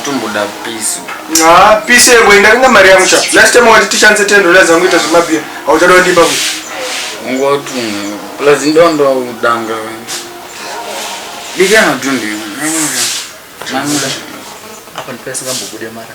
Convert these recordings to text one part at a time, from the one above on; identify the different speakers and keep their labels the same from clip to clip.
Speaker 1: Tomboda peace. Ah, peace
Speaker 2: yego indaringa mari yangu cha. Last time wati tichanse 10 dollars zangu ita zvimabia. Hauchada ndipa ku. Ngotu.
Speaker 1: Plus ndondo udanga. Bigana tundi. Apa
Speaker 3: ndipesa kambobude mara.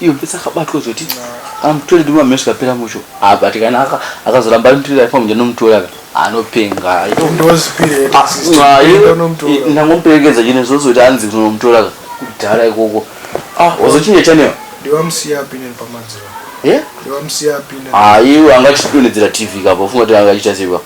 Speaker 3: iyo pesa akabatwa zoti amutore ndima mhesi kapera musho apa tikana akazoramba anotirira ifa mujana nomutora ka anopenga
Speaker 2: ndangomuperekedza
Speaker 3: chine zose kuti anzi kunomutora ka kudhara ikoko ah, wazochinja chanewa
Speaker 2: aiwa angachidonhedzera
Speaker 3: tv kapa ufunga kuti angachita sei kapa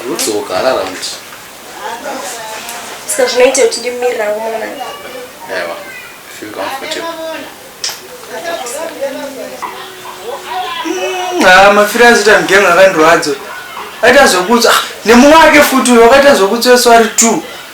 Speaker 3: Anodzoka arara kuti.
Speaker 4: Saka zvinoita kuti ndimirira mwana. Ewa,
Speaker 3: feel comfortable.
Speaker 5: Mm, ah, mafira azoita mgengo akandirwadzo. Aita zvokutsa ah, nemumwe wake futi uyo wakaita zvokutsa swari 2.